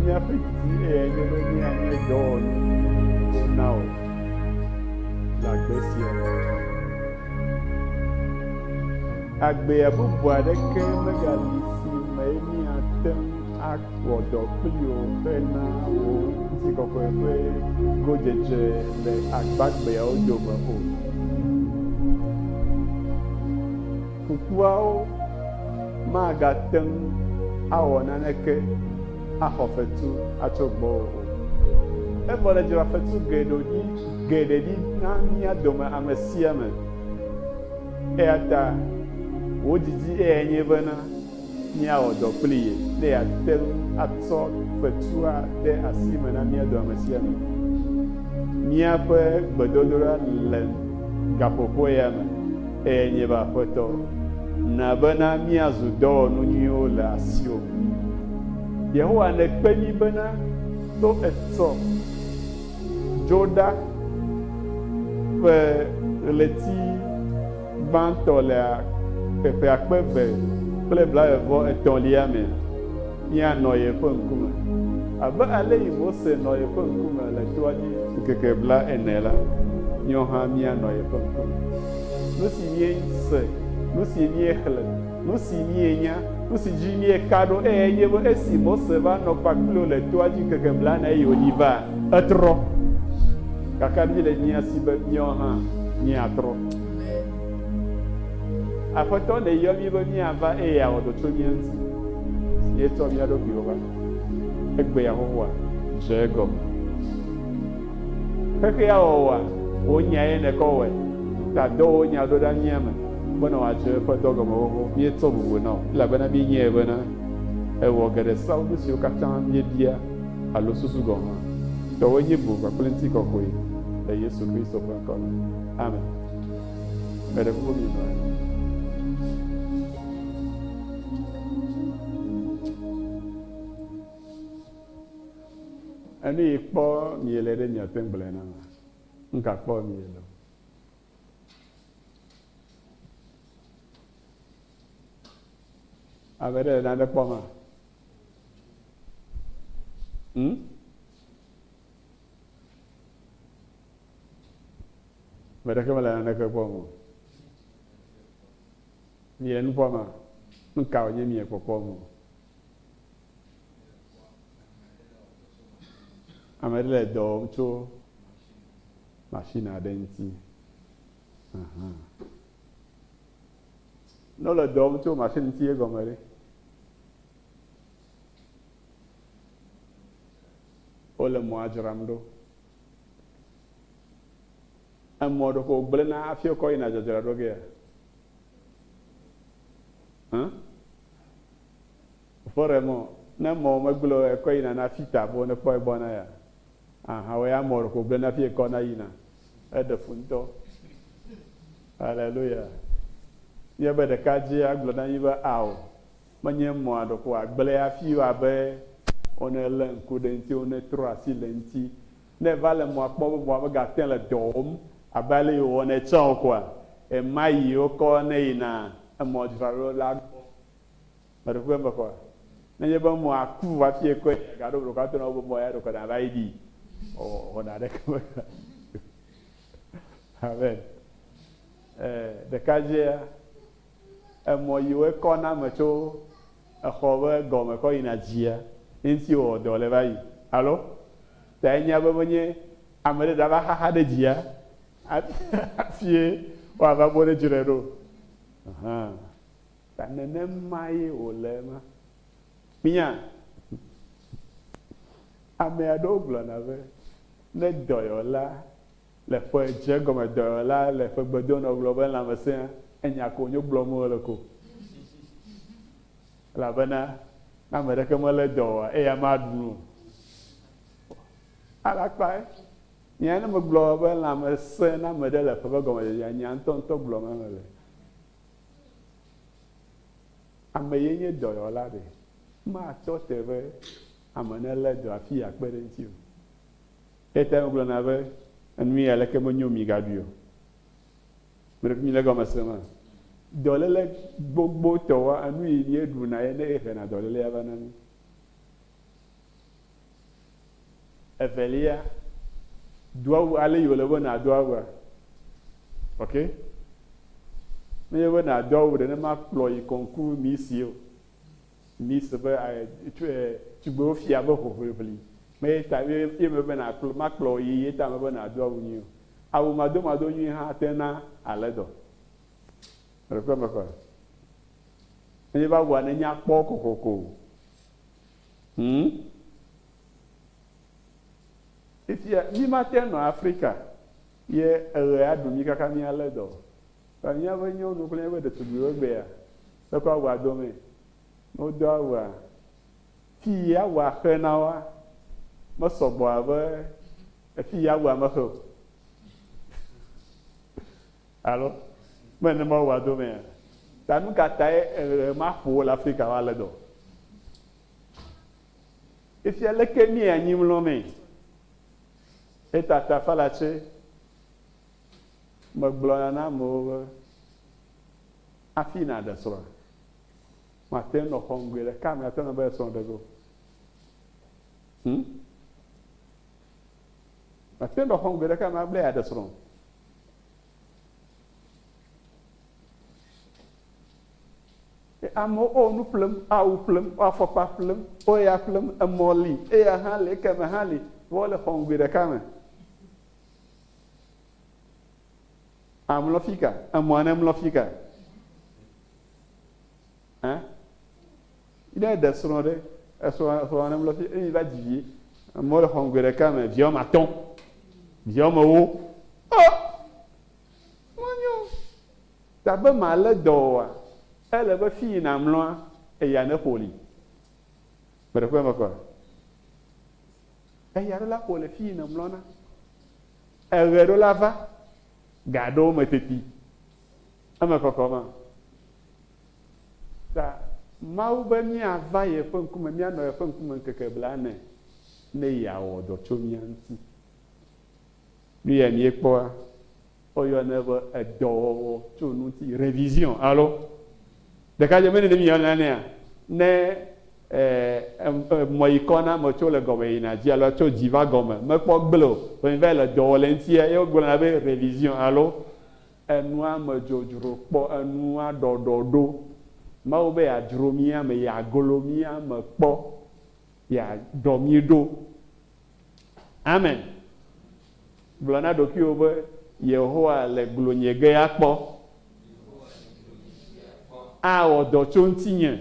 Míaƒe didi eyae nye be míanye dɔwɔnu si nawɔ le agbe sia me. Agbea bubu aɖeke megali si me míate ŋu awɔ dɔ kpli o hena wò ŋutikɔkɔe ƒe godzedze le agbagbeawo dome o. Kukuawo magate ŋu awɔ naneke axɔ fetu atso gbɔwò o. Evɔ nèdzra fetu geɖe ɖi, geɖe ɖi na mía dome ame sia ame. Eya ta wò didi eyae nye bena. míawɔ dɔ kpli ye ne yeate ŋu atsɔ fetua de asi me na mía doamesiame. Míaƒe gbedodoɖa le gaƒoƒoa ya me eye nye be Aƒetɔ, na bena míazu dɔwɔnu nyuiwo le asiwò me. Yehowa, nèkpe mí bena to etsɔ dzo ɖa ƒe ɣleti. gbãtɔ le ƒe ƒe akpe eve kple blaeve-vɔ-etɔ̃lia me, míanɔ yeƒe ŋkume, abe alesi Mose nɔ yeƒe ŋkume le toa dzi ŋkeke blaene la, míawo hã míanɔ yeƒe ŋkume. Nusi míese, nusi míexlẽ. Nu si mienya, nu si dzi mieka ɖo eyae nye be esi Mose va nɔ kpakple wo le toa dzi ŋkeke blaene eye wòyi va, etrɔ. Gake míele mía si be míawo hã míatrɔ. Aƒetɔ nèyɔ mí be míava eye awɔ dɔ tso mía ŋuti. Míetsɔ mía ɖokuiwo va. Egbe Yehowa, dze egɔme. Xexea wɔwɔa, wò nyae nèkɔ wɔe. Tadɔ wò nya ɖo ɖa mía me. Bena wòatso eƒe dɔ gɔme wɔwɔ, míetsɔ bubu na wò, elabena míenyae bena èwɔ geɖe seawo nu siwo katã míebia alo susu gɔ̃ hã. Tɔwòe nye bu kpakple ŋutikɔkɔe, le Yesu Kristo ƒe ŋkɔ me, amen. Meɖe kuku minɔ anyi. Enu yi kpɔ miele ɖe miate ŋu gblɔe nam? Nuka kpɔ miele o? Ame ɖe le nane kpɔm a? Hmm? Ame ɖeke mele naneke kpɔm o. Mie nu kpɔm a? Nu ka wònye mie kpɔkpɔm o? Ame ɖe le dɔ wɔm tso machine aɖe ŋuti. Ahan. Ne wole dɔ wɔm tso machine ŋuti egɔme ɖe? Wole mɔa dzram ɖo. Emɔ ɖeko wogblẽna hafi wokɔ yina dzadzra ɖo gea? Hã? Ƒoɖemɔ, ne mɔ megblẽ o ekɔ yina na fita be wonekpɔ egbɔ na ya. Ahanwe Amor ko gblẽ nafi ekɔ na yina. Eɖe fu ŋutɔ. Aleluya. Nye be ɖeka dzi agblɔ na mi be ao, menye mɔa ɖeko wòagblẽ afi o abe wone lé ŋku ɖe eŋuti, wone trɔ asi le eŋuti. Ne eva le mɔa kpɔ be mɔa mega te le dɔ wɔm abe ale yi wòwɔnɛ tsã o koa, ɣemaɣi wokɔ ne yina emɔdzralolaa gbɔ. Meɖo ŋku eme kɔ. Ne enye be mɔa ku hafi ekɔe ɖe, gaɖo blɔ kɔ ato na wò be mɔ ya ɖeko nàva yi ɖii o, wɔna aɖeke mele o. Amen. Ee, ɖeka dzea, emɔ yi woe kɔ na ame tso exɔ be gɔme kɔ yina dzia, eŋuti wowɔ dɔ le va yi. Alo? Ta enyea be menye ame ɖe ɖava xaxa ɖe dzia hafi, hafie woava bɔ ɖe dzi ɖe ɖo o. Ahan. Ta nenemae wòle ema. Fia, ame aɖewo gblɔna be ne dɔyɔla le ƒe dze gɔme dɔyɔla le ƒe gbe dom nɔ gblɔ be lãmesẽa, enya ko wònyo gblɔm wole ko. Elabena ne ame ɖeke melé dɔ oa, eya maɖu nu o. Alakpae nye ne megblɔ be lãmesẽ na ame ɖe le ƒe ƒe gɔmedzedzea, nya ŋutɔŋutɔ gblɔm ame le. Ame ye nye dɔyɔla ɖe? Matɔ te be ame nelé dɔ afii akpe ɖe eŋuti o. Eya ta megblɔna be, Enu ye aleke menyo migaɖui o. Mele fi mi le egɔme sem a? Dɔléle gbogbotɔwoa, enu yi míeɖuna ye ne ehena dɔlélea va na mí. Evelia, do awu ale yi wòle be nàdo awua. Ok? Menye be nàdo awu nenema kplɔ yi kɔnku misi o. Misi be tugbewo fia be hoʋliʋli. Meye ta ye me be nàkplɔ makplɔ yi ye ta me be nàdo awu nyui o. Awu madomado nyui hã ate na ale dɔ. Meɖe kpɔe me kɔ? Menye be awua nenya kpɔ kokoko o. Hm? Fifia mí ma te nɔ Afrika ye eɣe a ɖu mí kaka mí a lé dɔ o. Vɔ mía ƒe nyɔnu kple mía ƒe ɖetugbuiwo gbe ya te kɔ awɔa dɔ mɛ. Ne wo do awua, fi yi awua xe na woa, me sɔgbɔ abe efi yi awua me xe o. Alo mele Mawu ƒe ado mea? Ta nu ka tae eɣe maƒo wo le Afrika ƒe ale dɔ? Efia leke mía anyi mlɔ mee. Etata falatse megblɔna na amewo be, Hafi nàɖe srɔ̃a, màte ŋu nɔ xɔm gbe ɖeka me ate ŋu be srɔ̃ ɖe ge o. Hm? Màte ŋu nɔ xɔm gbe ɖeka me be yeaɖe srɔ̃ o. Amewo wo nu ƒlem, wo awu ƒlem, wo afɔkpa ƒlem, wo ya ƒlem, emɔ li, eya hã li, ekeme hã li, vɔ wole xɔ ŋgui ɖeka me. Amlɔ fika, emɔa nemlɔ fika. Ɛ? Ne eɖe srɔ̃ ɖe, esrɔ̃ srɔ̃a ne mlɔ fi eye va dzi vi. Amewo le xɔme gbe ɖeka me vi wɔme atɔ̃, vi wɔme ewo. Ɔ! Menyo o. Ta be malé dɔ oa, ele be fi yi nàmlɔa, eya neƒo li. Meɖe kpɔe mekpɔa? Eya ɖo la ƒo le fi yi nèmlɔna. Eɣe ɖo la va, ga ɖewo me teti. Eme kɔkɔ ma. Ta, Mawu be míava yeƒe ŋkume, míanɔ yeƒe ŋkume ŋkeke blaene, ne yeawɔ dɔ tso mía ŋuti. Nu yae míekpɔa, woyɔnɛ be edɔwɔwɔ tso nu ŋuti, revision, alo? Ɖekadze mene ne míeyɔna nɛa? Ne emɔ yi kɔ na ame tso le gɔme yina dzi alo tso dzi va gɔme, mekpɔ gble o, vɔ mi va yi le dɔ wɔ le eŋuti ye wogblɔna be revision, alo? Enua me dzodzro kpɔ enua ɖɔɖɔ ɖo. Mawu be yeadzro mí ame, yeaglo mí ame kpɔ, yeaɖɔ mí ɖo. Amen. Gblɔ na ɖokuiwò be, Yehowa le glonye ge ya kpɔ. Awɔ dɔ tso ŋutinye.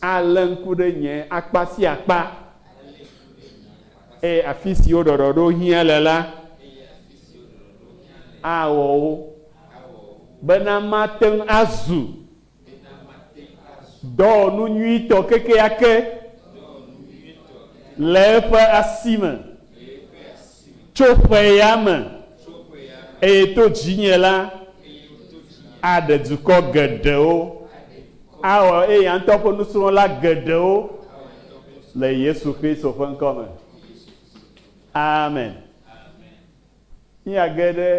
Alé ŋku ɖe nye akpa sia akpa. Eye afi siwo ɖɔɖɔɖo hiã le la, awɔ wo, bena mate ŋu azu dɔwɔnu nyuitɔ kekeake le eƒe asi me tso ƒe ya me. Eye to dzinye la, aɖe dukɔ geɖewo awɔ eya ŋutɔ ƒe nusrɔ̃la geɖewo le Yesu Kristo ƒe ŋkɔ me. Amen. Míage ɖe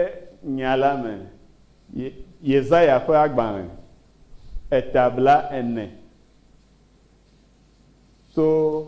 nya la me. Ye, Yesaya ƒe agbalẽ, eta bla ene. To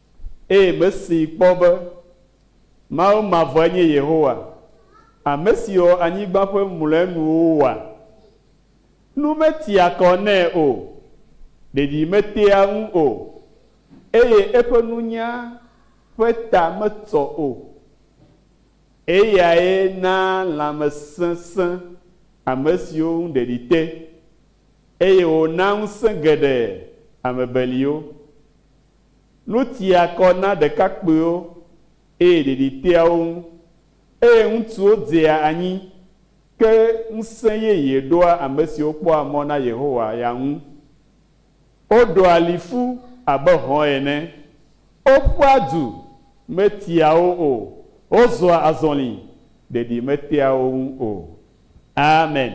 Eye mesee kpɔ be Mawu mavɔe nye Yehowa, ame si wɔ anyigba ƒe mlɔenuwo wa. Nu metia kɔ nɛ o, ɖeɖi metea ŋu o, eye eƒe nunya ƒe ta metsɔ o. Eyae naa lãmesẽ sẽ ame siwo ŋu ɖeɖi te, eye wònaa ŋusẽ geɖe ame beliwo. Nu tia kɔ na ɖekakpuiwo, eye ɖiɖi tea wo ŋu, eye ŋutsuwo dzea anyi, ke ŋusẽ yeye ɖoa ame siwo kpɔa mɔ na Yehowa ya ŋu. Woɖoa li ƒu abe hɔ̃ ene, woƒua du, metia wo o, wozɔa azɔli, ɖeɖi metea wo ŋu o. Amen.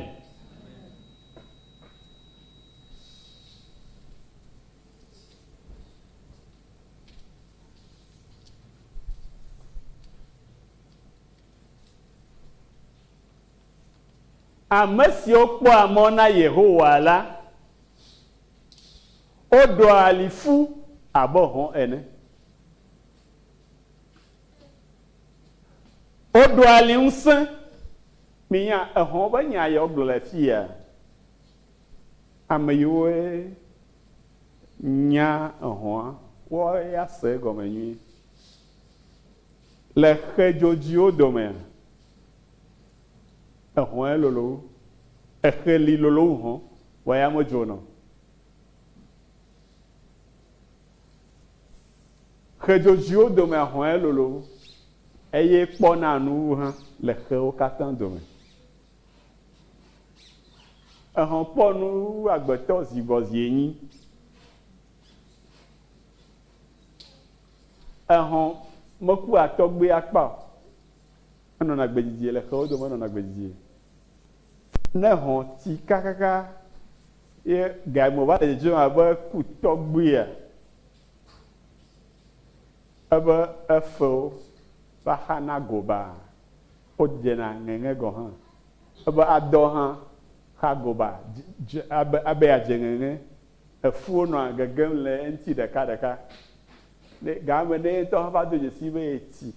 Ame siwo kpɔa mɔ na Yehowa la, woɖoa ali ƒu abe hɔ̃ ene. Woɖoa ali ŋusẽ. Minya ehɔ̃ ƒe nya ya wogblɔ le afii ya? Ame yiwoe. Nya ehɔ̃a, kpɔ eya se egɔme nyuie. Le xe dzodziwo domea, ehɔ̃e lolo wu. Exe li lolo wu hɔ̃, vɔ ya medzona o. Xe dzodziwo domea hɔ̃e lolo wu, eye kpɔna nu wu hã le xewo katã dome. Ehɔn kpɔ nu wu agbetɔ zi vɔ zi enyi. Ehɔn meku a tɔgbe a kpa o. Enɔna gbe didie le xewo dome enɔna gbe didie. Ne ehɔn ti kakaka ye ga me va le dzedzem abe eku tɔgbe a, ebe efewo va xa na go baa. Wodzena ŋeŋe gɔ̃ hã. Ebe adɔ hã xa goba dze abe abe yeadze ŋeŋe. Efuwo nɔa gegem le eŋuti ɖekaɖeka. Ne ga me ne ye ŋutɔ hã va do dzesii be yetsi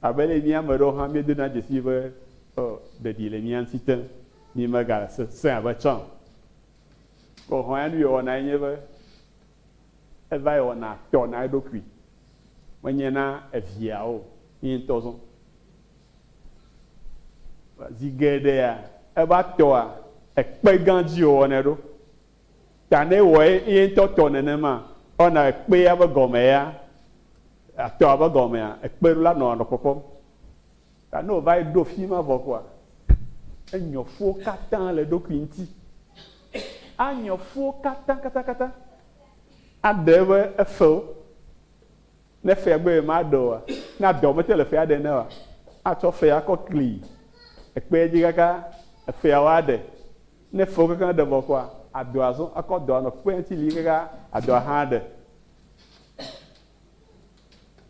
abe ale yi mía ame aɖewo hã míedona dzesii be ɔ ɖeɖi le mía ŋuti te mímega sesẽ abe tsã o. Ko hɔ̃ ya nu yewɔnae nye be Evae wɔna tɔ na eɖokui, menye na eviea o, ye ŋutɔ zɔ. Zi geɖea, eva tɔa ekpe gã dzi wòwɔnɛ ɖo. Ta ne ewɔ ye ŋutɔ tɔ nenema, ewɔna ekpea be gɔme ya, tɔa be gɔmea, ekpe la nɔa nɔ kpɔkpɔm. Ta ne wòva yi ɖo fi ma vɔ koa, enyɔ fuwo katã le eɖokui ŋuti. Anyɔ fuwo katã, katã, katã. Aɖe eƒe efewo. Ne fea gbe ye maɖe oa, ne adɔ mete le fea ɖe ne oa, atsɔ fea akɔ kli ekpea dzi kaka efea woaɖe. Ne efewo kekeŋ ɖe vɔ koa, adɔ azɔ akɔ dɔ anɔ kpea ŋuti li kaka adɔ ahã aɖe.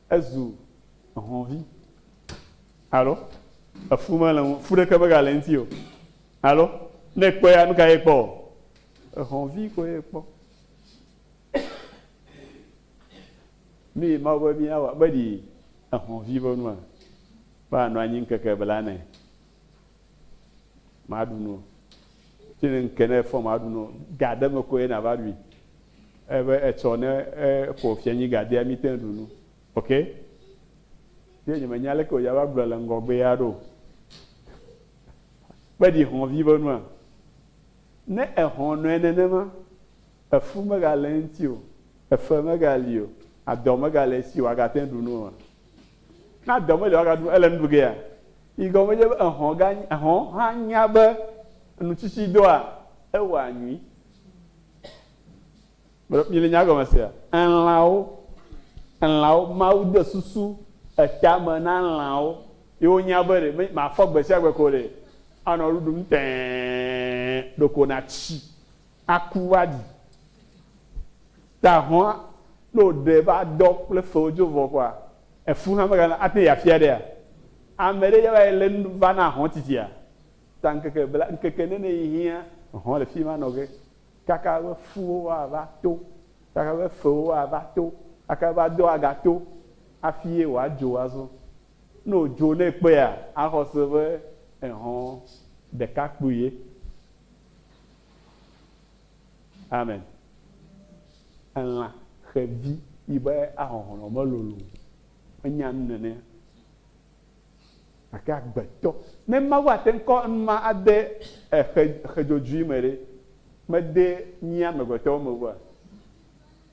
Ezu ehɔ̃vi. Alo, Efu mele ŋu, fu ɖeke megale eŋuti o. Alo, Ne èkpɔea, nu kae èkpɔ? Ehɔ̃ vi koe èkpɔ. Nue Mawu be míawɔ be ɖi ehɔ̃ vi ƒe nua? Be anɔ anyi ŋkeke blane, maɖu nu o. Tsi ne ŋke ne efɔ maɖu nu o. Ga ɖe me koe nava ɖui. Ebe etsɔ ne eƒo fianyi ga dea, míte ŋu ɖu nu. Ok, ye nye menya leke wòdze ava gblɔe le ŋgɔgbee aɖe o. Kpe ɖi hɔ̃vi be nua? Ne èhɔ̃ nɔe nenema, efu megale eŋuti o, efe megali o, adɔ megale esi o, wòagate ŋu aɖu nu oa? Ne adɔ meli o wòaga ɖu nu, ele nu ɖu gea? Yi gɔme nye be ehɔ̃ ga, ehɔ̃ hã nya be enu tsitsi doa ewɔa nyui. Mele mi le nya gɔme sea? Elãwo, elãwo, Mawu de susu eta me na elãwo ye wo nya be ɖe mafɔ gbe sia gbe ko ɖe anɔ nu ɖum tẽee ɖeko na tsi aku va ɖi. Ta hɔ̃a, ne wo ɖe va dɔ kple fewo dzo vɔ kɔa, efu hã me gana ate yi afia ɖea? Ame ɖe ya va yi le nu va na hɔ̃ tsitsia? Ta ŋkeke bla, ŋkeke nene yi hiã hɔ̃ le fi ma nɔ ge. Kaka eƒe ƒuwo woava to, kaka eƒe fewo woava to, kaka eƒe adowo agato hafi ye wòadzo azɔ. Ne wòdzo ne ekpɔea, axɔ se be ehɔ̃ ɖekakpui ye. Amen. Elã, xevi, yi be ahɔhlɔ̃ melolo o. Enya nu nenea? Gake agbetɔ, ne Mawu ate ŋu kɔ enuma ade exe, exe dzodzoe me ɖe, mede mí amegbetɔwo me ʋua?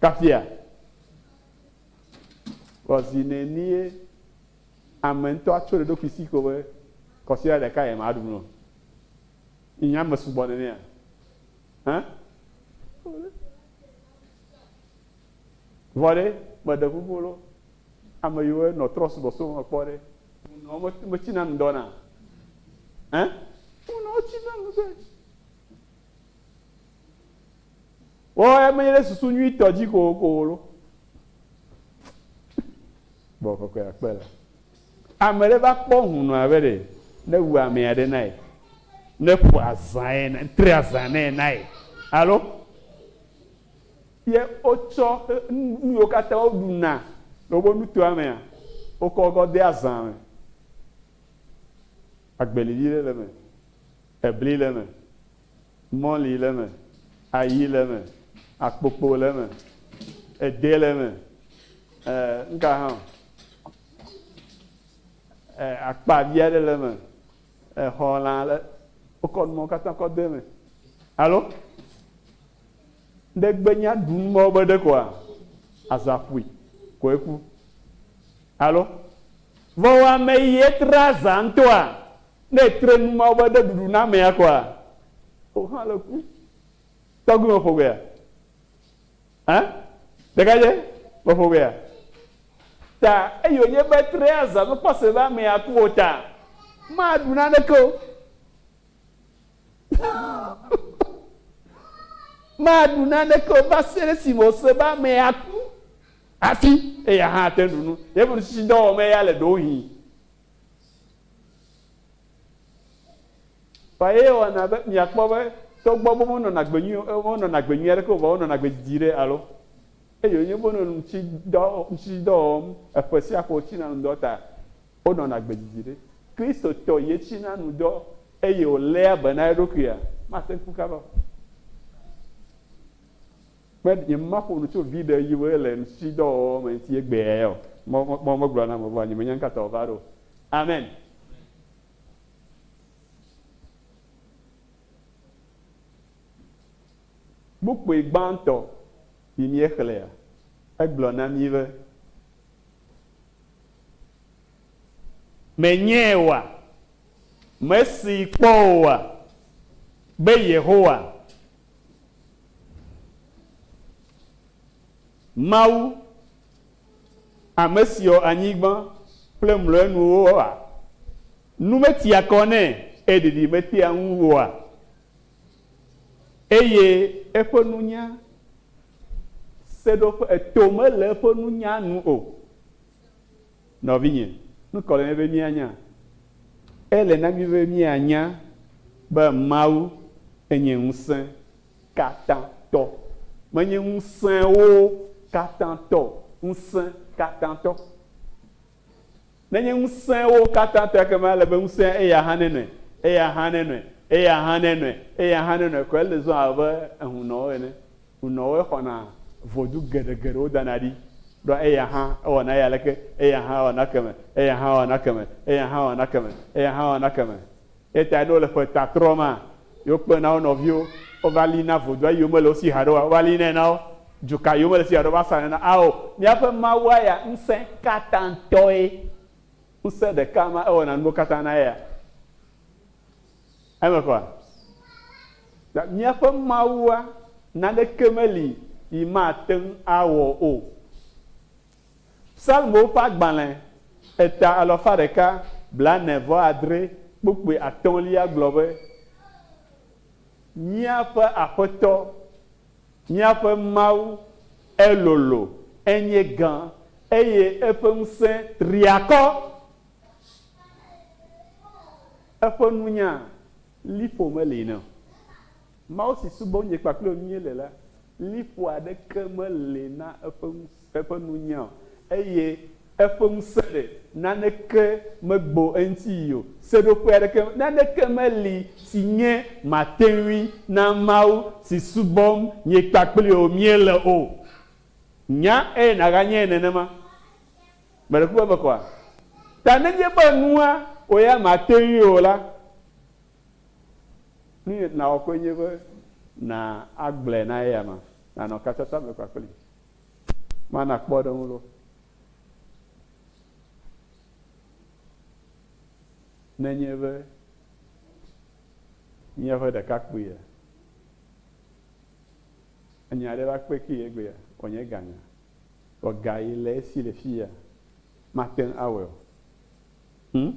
Kafia, vɔ zi nenie ame ŋutɔ atso ɖe eɖokui si ko be kɔsiɖa ɖeka ye maɖu mlɔ. Yi nye ame sugbɔ nenea? Hã? Vɔ ɖe, meɖe ƒoƒo lɔ ame yi woe nɔ trɔ subɔsubɔ me kpɔ ɖe, ŋu nɔ me me tsi na nu dɔ na? Ɛ? Ŋu nɔ tsi na nu dɔe. Wo ya me ɖe susu nyui tɔ dzi ko ko lo. Bɔ kɔkɔe akpe la. Ame ɖe va kpɔ ŋu nɔ abe ɖe ne wu ame ya ɖe na ye. Ne ƒo azã ye na, tre azã ne ye na ye. Alo? Ye wotsɔ nu yiwo katã woɖuna le woƒe nutoa mea, wokɔ kɔ dea zã me. Agbelivi ɖe le eme, ebli le eme, mɔli le eme, ayi le eme, akpokpo le eme, ede le eme, e, nuka hã o, e, akpa vi aɖe le eme. Exɔ lã ale wokɔ numɔwo katã kɔ de eme. Alo ɖe gbenya ɖu numɔwo be ɖe koa, azã ƒui koe ku. Alo vɔ wɔ ame yi etre azã ŋutɔa, ne etre numɔwo be ɖe ɖuɖu na amea koa, wo hã le ku. Tɔgbi me ƒogbea? Hã? Ɖekadze ƒe ƒomea? Ta eye wònye be trea zã be kpɔse be amee aku o ta maɖu naneke o. Maɖu naneke o va se ɖe esime wòse be amee aku hafi eya hã ate ŋu ɖu nu. Yeƒe nutsitsidɔwɔmee ya le ɖowohĩ. Vɔ eye wɔna be miakpɔ be togbɔ be wonɔna agbe nyui o, wonɔna agbe nyui aɖeke o, vɔ wonɔna agbe didi ɖe alo eye wonye be wonɔ ŋutsidɔ, ŋutsidɔ wɔm eƒe sia ƒe wotsina nu dɔ ta, wonɔna agbe didi ɖe. Kristotɔ ye tsina nu dɔ eye wòléa be na eɖokuia, mate ŋu kaba o. Kpe ɖe nye maƒo nu tso viɖe yi ŋu le nusisidɔwɔwɔ me ŋuti egbea ya o. Mɔ mɔ mɔ megblɔ na ame vɔ̃a nyemenya nuka ta wòva ɖo o. Amen. Kpukpui gbãtɔ yi míexlẽa, egblɔ na mí be. Menyee oa? Mesee kpɔ oa? Be Yehowa Mawu, ame si wɔ anyigba kple mlɔenuwoa? Nu metia kɔ nɛ eye ɖiɖi metea ŋu oa? Eye eƒe nunya seɖoƒe, eto mele eƒe nunya nu o. Nɔvinye, nu kae wòle na mí be míanya? Ele na mí be míanya be Mawu enye ŋusẽ katã tɔ. Menye ŋusẽwo katã tɔ o, ŋusẽ katã tɔ. Ne enye ŋusẽwo katã tɔ, ekema ele be ŋusẽa eya hã nenɔe, eya hã nenɔe, eya hã nenɔe, eya hã nenɔe, ko ele zɔm abe ehunɔwo ene. Nunɔwoe xɔna vodu geɖegeɖewo dana ɖi ɖoa eya hã ewɔna eya leke, eya hã ewɔna ekeme, eya hã ewɔna ekeme, eya hã ewɔna ekeme, eya hã ewɔna ekeme. Eya tae ne wole ƒe ta trɔ maa, yewo kpena wo nɔviwo wova lina vodua eyiwo mele wo si haɖe oa, wova linae na wo. Dzuka yiwo mele si haɖe o va sanɛ na. Ao, míaƒe Mawua ya Ŋusẽkatãtɔe. Ŋusẽ ɖeka ma, ewɔna nuwo katã na eya. Eme kɔ! Ta míaƒe Mawua, naneke meli yi mate ŋu awɔ o. Psalmowo ƒe agbalẽ eta alafa ɖeka blaene vɔ adre kpukpui atɔ̃lia gblɔ be, Míaƒe Aƒetɔ, míaƒe Mawu, elolo, enye gã, eye eƒe ŋusẽ tri akɔ. Eƒe nunya li ƒo meli nɛ o. Mawu si subɔ wonye kpakple wò míele la li ƒo aɖeke meli na eƒe ŋusẽ, eƒe nunya o eye eƒe ŋusẽ ɖe naneke megbo eŋuti yi o. Seɖoƒe aɖeke, naneke meli si nye mate ŋui na Mawu si subɔm nye kpakple wò míele o. Nya eye nàganyae nenema. Mele ku be mekɔa? Ta nenye be nua wò ya màte ŋui o la, nu si nàwɔ koe nye be nàgblɔe na eyama, nànɔ katsatsa me kpakplii. Mana kpɔɖeŋu loo. Nenye be míaƒe ɖekakpuia nya aɖe va kpe kee egbea, wòanye gãnya. Vɔ ga yi le esi le fiya mate ŋu awɔe o. Hm,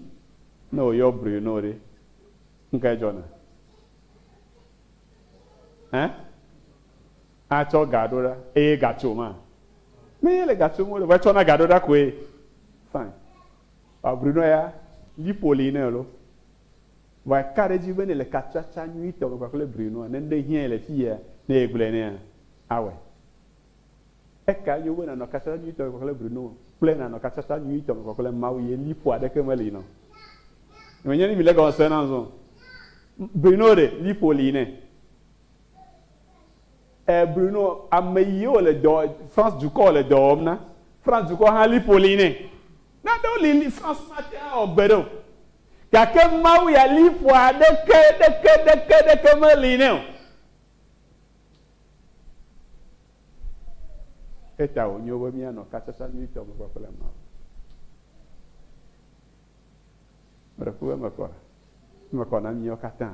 ne woyɔ Bruno ɖe, nukae dzɔna? Ẽ? Atsɔ ga ɖo ɖa eye ga tso ma? Ne yele ga tsom wole vɔ etsɔna ga ɖo ɖa koe. Fine. Vɔ Bruno ya, liƒo li nɛ loo. Vɔ eka ɖe edzi be ne le katsatsa nyuitɔ me kpakple Brunoa, ne nuɖe hiãe le fiya, ne yegblɔe nɛa, awɔe. Eka nyo be nanɔ katsatsa nyuitɔ me kpakple Bruno kple nanɔ katsatsa nyuitɔ me kpakple Mawu ye liƒo aɖeke meli nɔ. Menye ni mi le gɔme sem na zɔ. Bruno ɖe, liƒo li nɛ. E, Bruno, ame yi wo le dɔ, France dukɔ wo le dɔ wɔm na. France dukɔ hã liƒo li nɛ. Nanewo li li France mate ŋu awɔ gbe ɖe o. Gake Mawu ya liƒo aɖeke ɖeke ɖeke ɖeke meli nɛ o. Eya ta wònyo be míanɔ kasasa nyuitɔ me kpakple Mawu. Meɖe ku be eme kɔ, eme kɔ na míawo katã.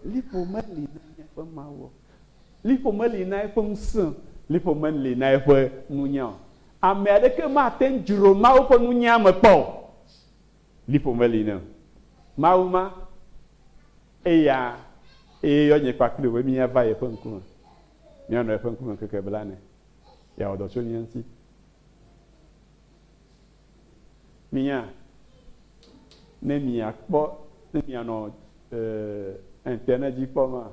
Liƒo meli na míaƒe Mawu o. Liƒo meli na eƒe ŋusẽ o. Liƒo meli na eƒe nunya o. Ame aɖeke mate ŋu dzro Mawu ƒe nunya me kpɔ o. Liƒo meli ne Mawu ma, eya ye yɔ nye kpakple wò be míava yeƒe ŋkume, míanɔ yeƒe ŋkume ŋkeke blane, yeawɔ dɔ tso mía ŋuti. Minya, ne miakpɔ, ne mianɔ, ee, ŋtenedzi kpɔm maa,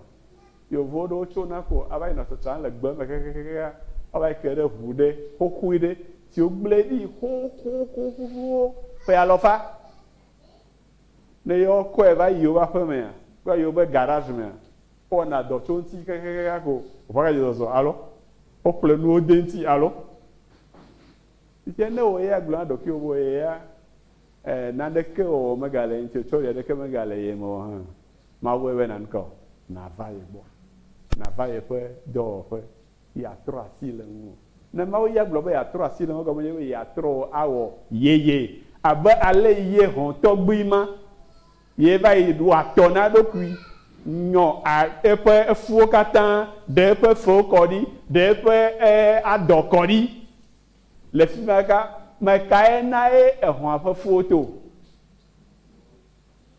Yevu aɖewo tsona ko ava yina tsatsam le gbe me kekekekekeŋ ava ke ɖe ŋu ɖe xoxoe ɖe si wogblẽ ɖi xoxoxo ƒuƒuwo ƒe alɔfa. Ne yewoakɔe va yi yewoƒe aƒemea kple yewoƒe garage mea, wowɔna dɔ tso eŋuti kekekekeŋ ako ŋua gayi zɔzɔ alo woƒle nuwo de eŋuti alo yi ke ne wò ya gblɔ na ɖokuiwò be wò ya E, naneke wɔwɔ megale ye ŋuti o, tsɔli aɖeke megale ye me o hã, mawɔe be naneke o. Nàva ye gbɔ, nàva yeƒe dɔwɔƒe, yeatrɔ asi le ŋuwò. Ne Mawu ya gblɔ be yeatrɔ asi le ŋuwò, egɔme nye be yeatrɔ wò awɔ Yeye. Abe ale ye hɔ̃ tɔgbui ma ye va yi wɔ atɔ na eɖokui, nyɔ a, eƒe efuwo katã, ɖe eƒe fewo kɔ ɖi, ɖe eƒe e, adɔ kɔ ɖi, Le fima ka me kae nae ehɔ̃a ƒe fuwo to?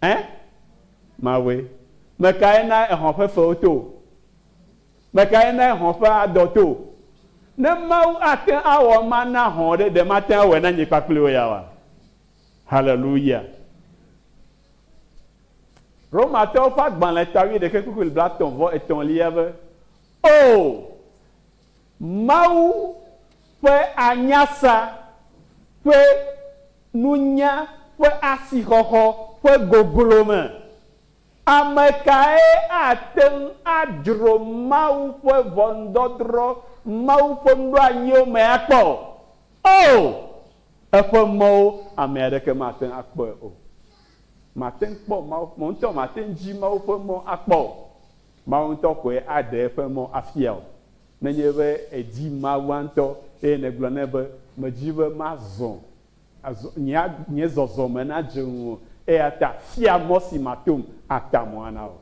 Ẽ? Mawue. Mekae nae ehɔ̃ ƒe fewo to? Mekae nae hɔ̃ ƒe adɔ to? Ne Mawu ate awɔ ema na hɔ̃ ɖe, ɖe mate awɔe na nye kpakple wò yaoa? Haleluya! Romatɔwo ƒe agbalẽ ta wuiɖekɛ kpukpui blatɔ̃ vɔ etɔ̃lia be, Oo, Mawu ƒe anyasa ƒe nunya ƒe asixɔxɔ ƒe goglo me. Ame kae ate ŋu adzro Mawu ƒe ʋɔnudɔdrɔ̃ Mawu ƒe nuɖoanyiwo me akpɔ? Oo, eƒe mɔwo ame aɖeke mate ŋu akpɔe o. Màte ŋu kpɔ Mawu, wò ŋutɔ màte ŋu dzi Mawu ƒe mɔ akpɔ o. Mawu ŋutɔ koe aɖe eƒe mɔ afia wò. Nenye be èdi Mawua ŋutɔ eye nègblɔ nɛ be, Medi be mazɔ, azɔ, nye, nye zɔzɔme nadze ŋuwò, eyata fia mɔ si matom ata mo ana wò.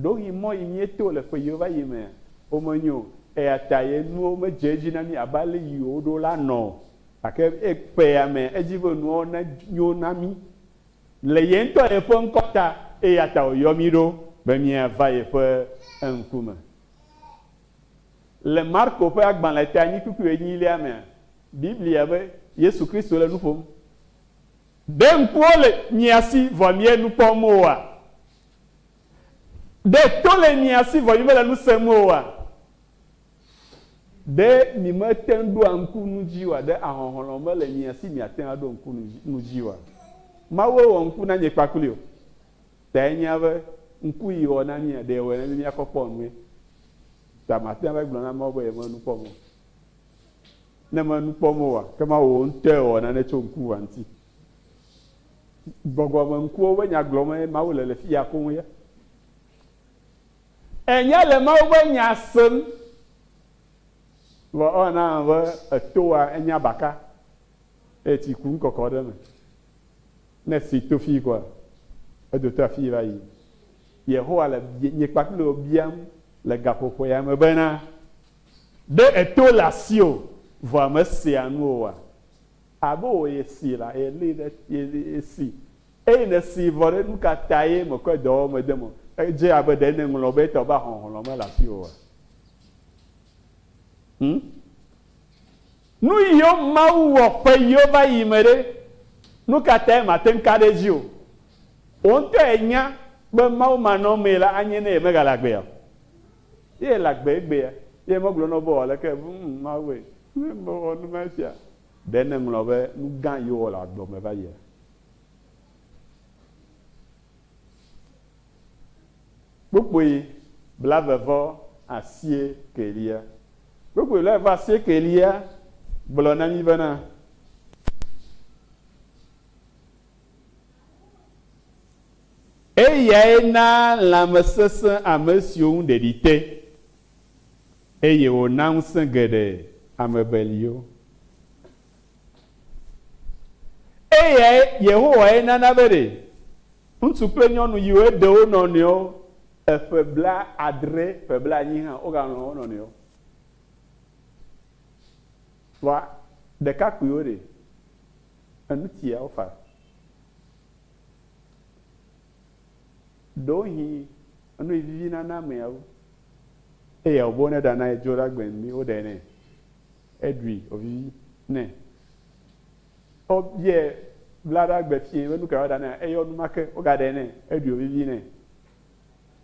Ɖewohĩ mɔ yi míeto le ƒeyiwo va yi mea, womenyo o, eyata ye nuwo medze edzi na mí abe ale yi woɖo la nɔ o. Gake ƒeya mea, edzi be nuawo nenyo na mí. Le ye ŋutɔ yeƒe ŋkɔ ta, eya ta wòyɔ mí ɖo be míava yeƒe ŋkume. Le Marko ƒe agbalẽ teanyikpukpui enyilia mea, Biblia be Yesu Kristo le nu ƒom. Ɖe ŋkuwo le mia si vɔ miele nu kpɔm oa? Ɖe to le mia si vɔ mimele nu sem oa? Ɖe miemete ŋu ɖoa ŋku nu dzi oa, ɖe ahɔhlɔ̃ mele mia si miate ŋu aɖo ŋku nu dzi oa? Mawue wɔ ŋku na nye kpakpli o. Ta enyea be, ŋku yi wɔ na mía, ɖe yewɔe na mí míakɔ kpɔ nue. Ta mate ŋu ava gblɔ na Mawu be yemele nu kpɔm o. Ne mele nu kpɔm oa, ke Mawu ŋutɔe wɔ nane tso ŋkuʋua ŋuti. Gbɔgbɔmeŋkuwo be nya gblɔm ye Mawu le le fiya koŋ ya. Ènya le Mawu ƒe Nya sem. Vɔ ewɔna abe ètoa enya baka eye tsi kum kɔkɔ ɖe eme. Ne etsi to fii koa, edoto afii va yi. Yehowa le nye kpakple wò biam le gaƒoƒoea me bena, Ɖe èto le asiwò vɔa mesea nu oa? Abe wòye si la, yeli ɖe, yesi Eyi nèsee vɔ ɖe, nu ka tae mèkɔe dɔ wɔm dem o? Edze abe ɖe nèŋlɔ be etɔ be ahɔnhlɔ̃ mele asiwòa? Hm? Nuyiwo Mawu wɔ ƒe yiwo va yi me ɖe, nu ka tae màte ŋu ka ɖe edzi o? Wò ŋutɔ ènya be Mawu manɔamee la anye ne yemegale agbe o. Ye ele agbe egbea, ye megblɔ na wò be wɔ aleke? Hm, Mawue! Hm, mewɔ nu ma sia. Ɖe nèŋlɔ be nu gã yiwo wɔ le agbe me va yia? Kpukpui blave-vɔ asieke-lia. Kpukpui blave-vɔ asieke-lia gblɔ na mí bena, Eyae naa lãme sesẽ ame siwo ŋu ɖeɖi te, eye wònaa ŋusẽ geɖe ame beliwo. Eyae Yehowae nana be ɖe ŋutsu kple nyɔnu yiwo heɖe wo nɔnɔewo eƒe blaadre, ƒe blaenyi hã wogalɔ̃ wo nɔnɔewo. Vɔa ɖekakpuiwo ɖe? Enu tia wofa. Ɖewohĩ enu yi vivi nana amea wu eya wòbe woneɖana ye dzo ɖagbe ŋu mi woɖae nɛ. Eɖui wòvivi nɛ. Wobiae blaɖagbe fiẽ be nukae woaɖa nɛ, eyɔ numake wogaɖae nɛ, eɖui wòvivi nɛ.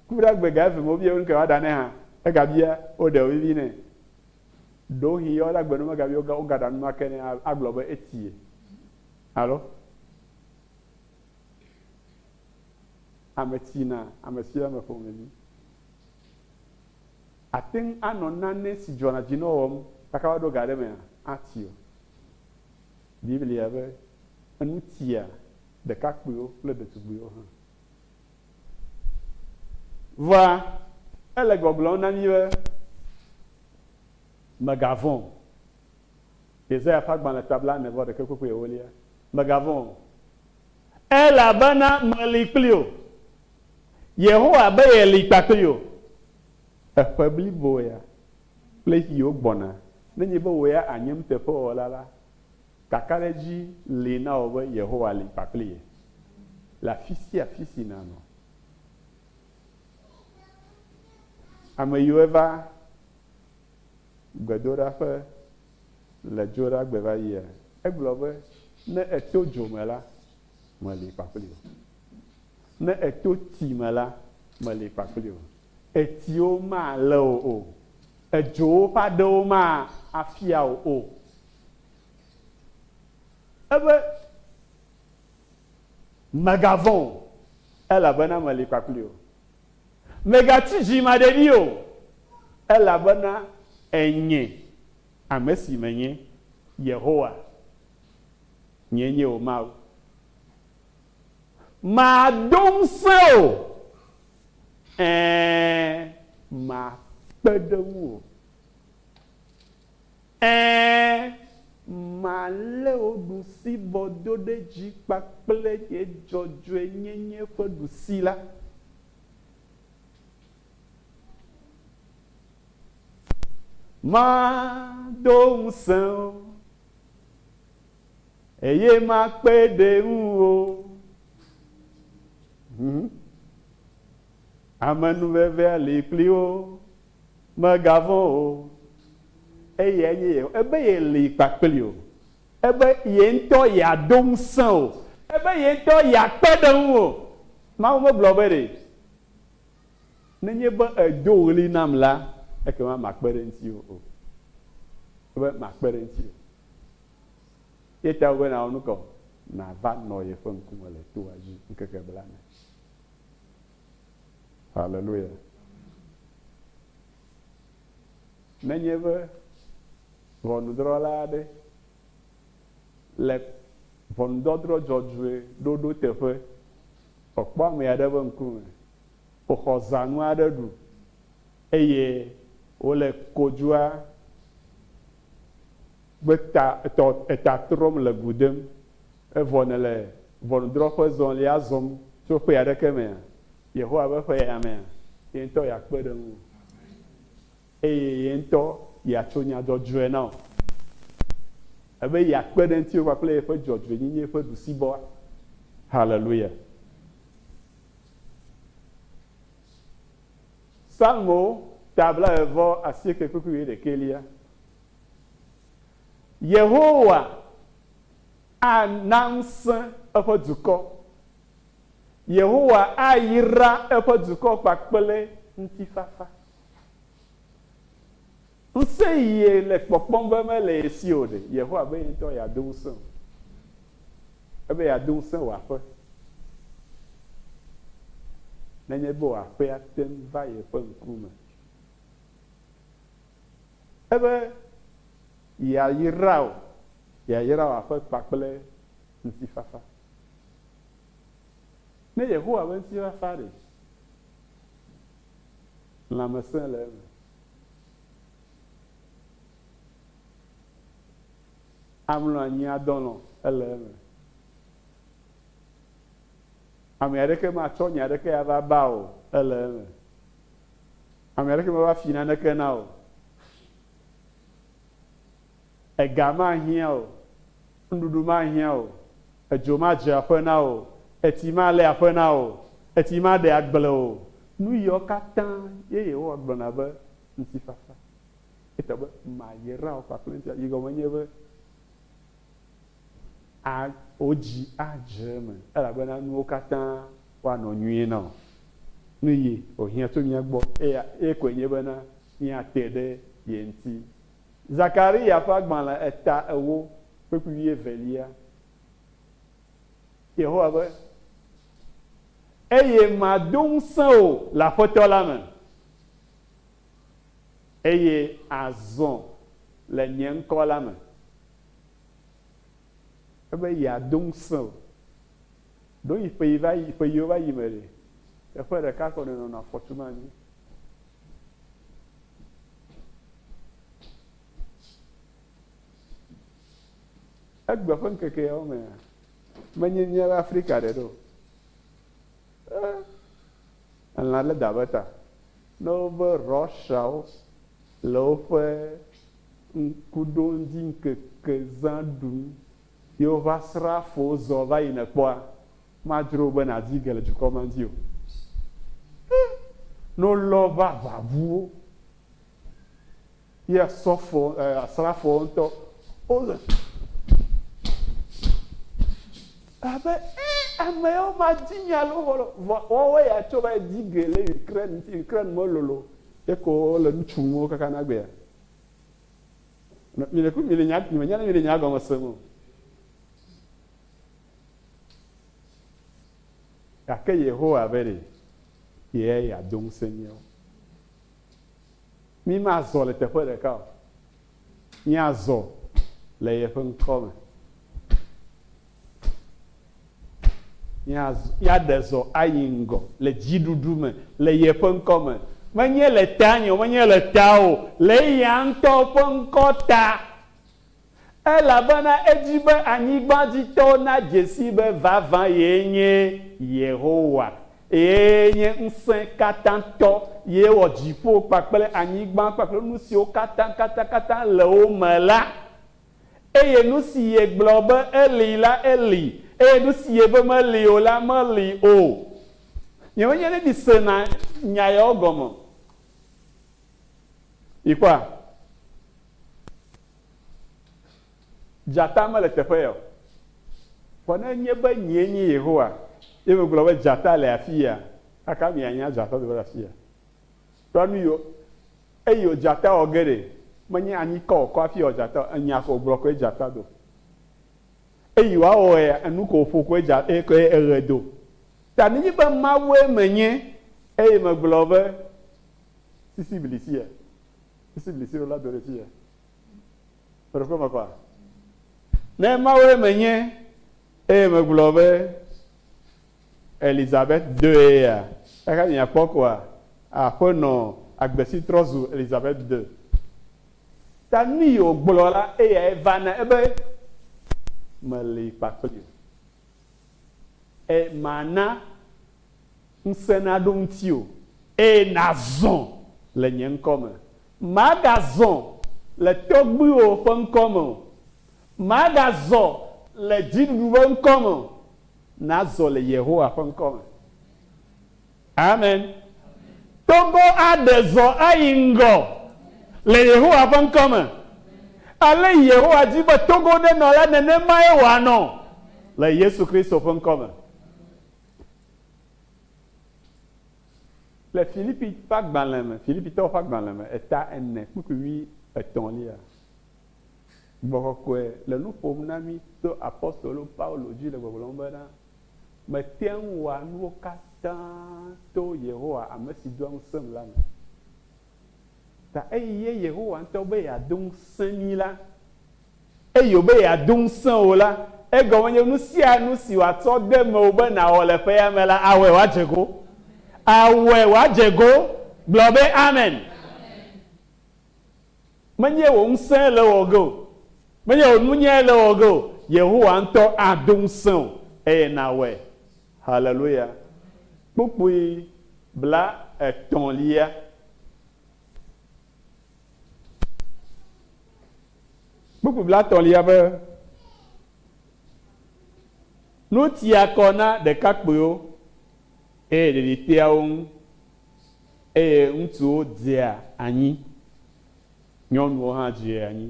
Kuɖagbe ga eve me wobiae be nukae woaɖa nɛ hã, egabia woɖae wòvivi nɛ. Ɖewohĩ yɔ ɖagbe nu megabia wo, wogaɖa numake nɛ agblɔ be etie. Alo ame tsina, ame sue le ame ƒomevi. Àte ŋu anɔ nane si dzɔna dzinɔ wɔm gake woaɖo ga ɖe emea? Ati o. Biblia be, Enu tia ɖekakpuiwo kple ɖetugbuiwo hã. Vɔa, ele gbɔgblɔm na mí be, Mègavɔ̃ o. Yesaya ƒe agbalẽ ta blaene-vɔ-ɖekɛ kpukpui ewolia. Mègavɔ̃ o. Elabena meli kpli wò. Yehowa be yeli kpakpli wò. Eƒe blibo ya kple ɣiwo gbɔna. Nenye be wò ya ànye nuteƒewɔla la, kakaɖedzi li na wò be Yehowa li kpakpli ye le afi sia afi si nànɔ. Ame yiwo va. gbedoɖaƒe le dzo ɖagbe va yia? Egblɔ be, Ne èto dzo me la, meli kpakpli wò. Ne èto tsi me la, meli kpakpli wò. Etsiwo malé wò o, edzowo ƒe aɖewo mafia wò o. Ebe, Mègavɔ̃ o, elabena meli kpakpli wò. Mègati dzimaɖeɖi o, elabena ènye ame si menye, Yehowa, nyee nye wò Mawu. Mado ŋusẽ wò, ɛ̃, makpe ɖe ŋuwò. Ɛ̃, malé wò ɖusibɔ do ɖe dzi kpakple nye dzɔdzɔenyenye ƒe ɖusi la. Mado ŋusẽ wò, eye makpe ɖe ŋuwò. Amenuveve ali kpli wo. Mègavɔ̃ o, eyae nye Yehowa. Ebe yeli kpakpli wò. Ebe ye ŋutɔ yeado ŋusẽ wò. Ebe ye ŋutɔ yeakpe ɖe ŋuwò. Mawu megblɔ be ɖe, Nenye be èdo ɣli nam la, ekema makpe ɖe ŋutiwò o. Ebe makpe ɖe ŋutiwò. Eya tae wòbe nawɔ nu ka o? Nàva nɔ yeƒe ŋkume le toa dzi ŋkeke blana. Haleluya! Nenye be ʋɔnudrɔ̃la aɖe le ʋɔnudɔdrɔ̃ dzɔdzɔe ɖoɖo teƒe, wòkpɔ ame aɖe ƒe ŋkume, wòxɔ zãnu aɖe ɖu, eye wòle kodzua Gbe ta etɔ eta trɔm le gu dem. Evɔ nèle ʋɔnudrɔ̃ƒe zɔlia zɔm tso ƒe aɖeke mea? Yehowa ƒe ƒe ya mea, ye ŋutɔ yeakpe ɖe ŋuwò eye ye ŋutɔ yeatso nya dzɔdzɔe na wò. Ebe yeakpe ɖe ŋutiwò kpakple yeƒe dzɔdzɔenyenye ƒe ɖusibɔa? Haleluya! Salmo ta blaeve vɔ asieke kpukpui wuiɖekɛlia. Yehowa ana ŋusẽ eƒe dukɔ. Yehowa ayra eƒe dukɔ kpakple ŋutifafa. Ŋusẽ yie le kpɔkpɔm be mele ye si o ɖe? Yehowa be ye ŋutɔ yeado ŋusẽ wò. Ebe yeado ŋusẽ wò aƒe. Nenye be wò aƒea te ŋu va yeƒe ŋkume. Ebe yeayra wò, yeayra wò aƒe kpakple ŋutifafa. Ne Yehowa be ŋutifafa ɖe, lãmesẽ le eme. Amlɔ anyi adɔ alɔ̃ ele eme. Ame aɖeke matsɔ nya aɖeke ava ba o ele eme. Ame aɖeke mava fi naneke na o. Ega mahiã o, nuɖuɖu mahiã o, edzo madze aƒe na wò o, etsi malé aƒe na wò o, etsi maɖe agble o. Nu yiawo katã ye Yehowa gblɔna be ŋutifafa. Egblɔ be, Mayra wò kpakple ŋutilã. Yi gɔme nye be, a, wò dzi adze eme, elabena nuwo katã woanɔ nyuie na wò. Nu yi wòhiã tso mía gbɔ eya, eye koe nye bena míate ɖe ye ŋuti Zakaria ƒe agbalẽ eta ewo kpekpe wuievelia. Yehowa be, Eye mado ŋusẽ wò le Aƒetɔ la me, eye àzɔ le nye ŋkɔ la me. Ebe yeado ŋusẽ wò. Ɖo yi ƒe yi va yi, ƒe yiwo va yi me ɖe, teƒe ɖeka ko nenɔnɔ afɔtu ma anyi. Egbe ƒe ŋkeke yawo mea, menye míabe Afrika ɖe ɖo. Eh, elã lé da ƒe ta. Ne wobe Russiawo le woƒe ŋkuɖoŋuti ŋkeke zã ɖum ye woƒe asrafowo zɔ va yina kpɔa, Madzro be nàdi ge le dukɔ ma dzi o. Ẽ! Ne wolɔ eƒe aʋaʋuwo, ye asɔfo, ɛ, asrafoawo ŋutɔ, wole abe, Ẽ! Ame yawo madi nya le wo gbɔ o. Vɔ woawoe ya tsɔ va yi di ge le Ukraine ŋuti. Ukraine melolo o. Ye ko wole nu tsum wo kaka na gbea. Nɔ, mi ɖekui mi le nya, mi menya ne mi le nyaa gɔme sem o. Gake Yehowa be ɖe kee yeado ŋusẽ mí o. Mímazɔ le teƒe ɖeka o, míazɔ le yeƒe ŋkɔ me. Míazɔ, míaɖe zɔ ayi ŋgɔ le dziɖuɖu me le yeƒe ŋkɔ me. Menye le tanye o, menye le tawò o, le eya ŋutɔ ƒe ŋkɔ ta. elabena edi be anyigba dzi tɔwo nadze sii be vavã yee nye Yehowa, eye nye Ŋusẽkatãtɔ ye wɔ dziƒo kpakple anyigba kpakple nu siwo katã katakata le wo me la. Eye nu si yegblɔ be eli la, eli, eye nu si yebe meli o la, meli o. Nyemenye ne misena nya yawo gɔme o. Mikpɔa? Dzata mele teƒe ya o. Vɔ ne enye be nyee nye Yehowa, ye megblɔ be dzata le afia, kaka mianya dzata teƒe le afia. Ɖɔ nu yio, eyio dzata wɔ ge ɖe, menye anyikɔ wòkɔ hafi wɔ dzata o, enya ko wògblɔ koe dzata do. Eyi wòawɔ ɣea, enu ko wòƒo koe dza, e, koe eɣe do. Ta nenye be Mawue menye, eye megblɔ be, Sisi bli sia. Esi mi seo la do ɖe tsiɛ. Ƒe ɖe ƒe ƒaƒa. Ne Mawue menye eye megblɔ be Elizabeth dɔe ya, exa mi akpɔ koa? Aƒenɔ agbe si trɔ zu Elizabeth dɔ. Ta nuyi wògblɔ la, eyae va na ebe meli kpakpli o. Eye mana Ŋusẽ naɖo ŋutiwò, eye nàzɔ le nye ŋkɔ me. Màgazɔ le tɔgbuiwòwo ƒe ŋkɔ me o, màgazɔ le dziɖuɖu ƒe ŋkɔ me o, nàzɔ le Yehowa ƒe ŋkɔ me. Amen. Togo aɖe zɔ ayi ŋgɔ le Yehowa ƒe ŋkɔ me. Ale Yehowa di be Togo ɖe nɔ la, nenemae wòanɔ le Yesu Kristo ƒe ŋkɔ me. Le Filipi ƒe agbalẽ me, Filipitɔwo ƒe agbalẽ me, eta ene, kpukpui vi etɔ̃lia, gbɔgbɔ kɔkɔe le nu ƒom na mí to apostolo Paulo dzi le gbɔgblɔm bena, Mete ŋu wɔa nuwo katã to Yehowa ame si doa ŋusẽm la me. Ta eye Yehowa ŋutɔ be yeado ŋusẽ mí la, Eye wòbe yeado ŋusẽ wò la, egɔme nye nu sia nu si wòatsɔ de mewò be nàwɔ le ƒea me la, awɔe wòadze go. Awɔe wòadze go. Gblɔ be, Amen. Menye wò ŋusẽe le ewɔ ge o. Menye wò nunyae le ewɔ ge o. Yehowa ŋutɔ ado ŋusẽ wò eye nàwɔe. Haleluya. Kpukpui blaetɔ̃lia. Kpukpui bla tɔ̃lia be Nu tia kɔ na ɖekakpuiwo eye ɖeɖi tea wo ŋu eye ŋutsuwo dzea anyi, nyɔnuwo hã dzea anyi,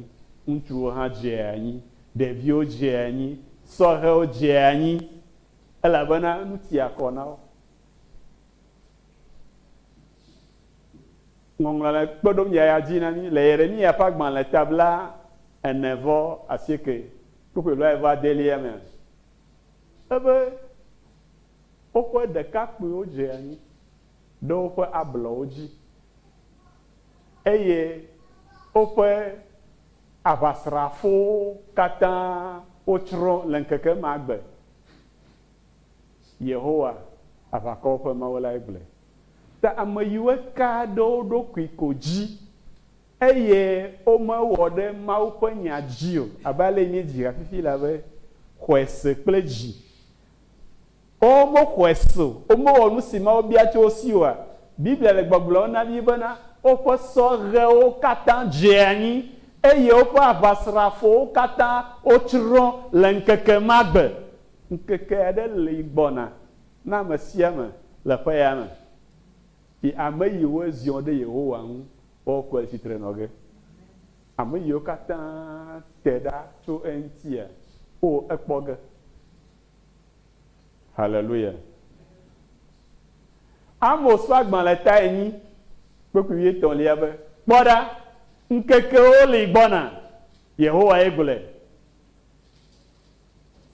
ŋutsuwo hã dzea anyi, ɖeviwo dzea anyi, sɔhɛwo dzea anyi elabena nu tia kɔ na wo. Ŋɔŋlɔ le kpe ɖom yaya dzi na mí le Yeremiya ƒe agbalẽ ta bla ene vɔ asieke kpukpui blae vɔ adelia me azɔ ebe, Woƒe ɖekakpuiwo dze anyi ɖe woƒe ablɔwo dzi, eye woƒe aʋasrafowo katã wotsrɔ̃ le ŋkeke ma gbe. Yehowa, aʋakɔwo ƒe Mawu lae gblɔe. Ta ameyiwoe ka ɖe wo ɖokui ko dzi, eye womewɔ ɖe Mawu ƒe nya dzi o, abe ale míedzi ha fifi la be, xɔe se kple dzi. Ɔ, womoxɔe se o, womewɔ nusi Mawu bia tso wo si oa? Biblia le gbɔgblɔm na mí bena, Woƒe sɔhɛwo katã dze anyi, eye woƒe aʋasrafowo katã wotsrɔ̃ le ŋkeke ma gbe. Ŋkeke aɖe li gbɔna Na ame sia ame le ƒe ya me yi ame yi woe ziɔ ɖe Yehowa ŋu woa kɔe tsitre nɔ ge. Ame yiwo katã te ɖa tso eŋutia, wo ekpɔ ge. Haleluya. Amos ƒe agbalẽ ta enyi kpekui wuietɔ̃lia be, Kpɔ ɖa, ŋkekewo li gbɔna, Yehowae gblɔe.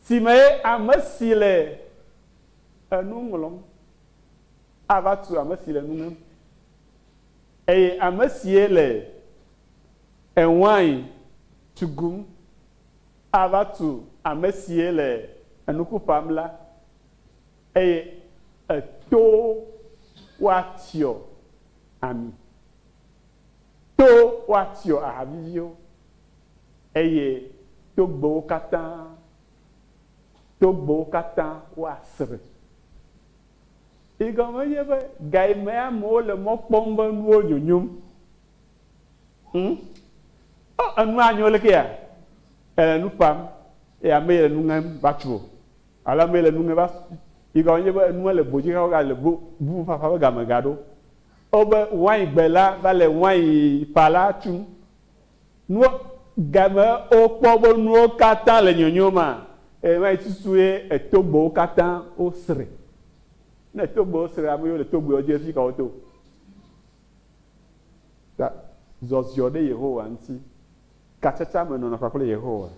Si mee ame si le enu ŋlɔm ava tu ame si le nu ŋem, eye ame sie le ewain tugum ava tu ame sie le enuku ƒam la, eye etowo woatsyɔ ami, towo woatsyɔ aha viviwo. Eye togbɛwo katã, togbɛwo katã woasre. Yi gɔme nye be, gayi me amewo le mɔ kpɔm be nuwo nyonyom? Hm? O, enu anyo leke ya? Èle nu ƒam, eye amee le nu ŋem va tso, alo amee le nu ŋem va, yi gɔme nye be, enua le bo dzi hafi wogale bo, bubufafa ƒe game gaɖo. Wobe, waingbe la va le wainƒala tum. Nuwo game wokpɔ be nuwo katã le nyonyom maa? Eye ma yi susu ye Etogbowo katã wosre. Ne Etogbowo sre ame yiwo le Togboewo dzi hafi ka woto? Ta zɔziɔ ɖe Yehowa ŋuti, katsatsa me nɔnɔ kpakple Yehowa,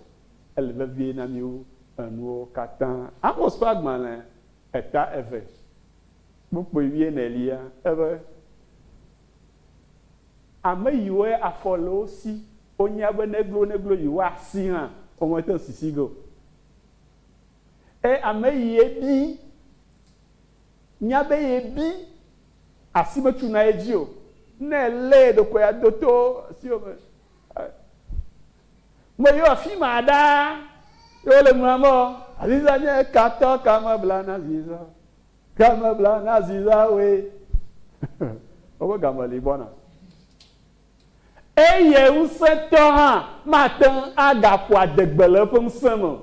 ele vevie na mí wu enuwo katã. Amos ƒe agbalẽ eta eve kpukpui wuienelia, ebe, Ame yiwoe afɔ le wo si wonya be ne glo ne glo yewoa si hã womete si si ge o. Eye ame yie bi nya be ye bi asi me tsu na ye dzi o. Ne ele ye ɖokui ado to siwo me me yewo afi ma ɖa ye wole ŋlɔa me o. Aziza nye katɔ kame bla na ziza. Ke mebla na zi la woe. Woƒe game li gbɔna. Eye ŋusẽtɔ hã mate ŋu agaƒo adegbe le eƒe ŋusẽ me o.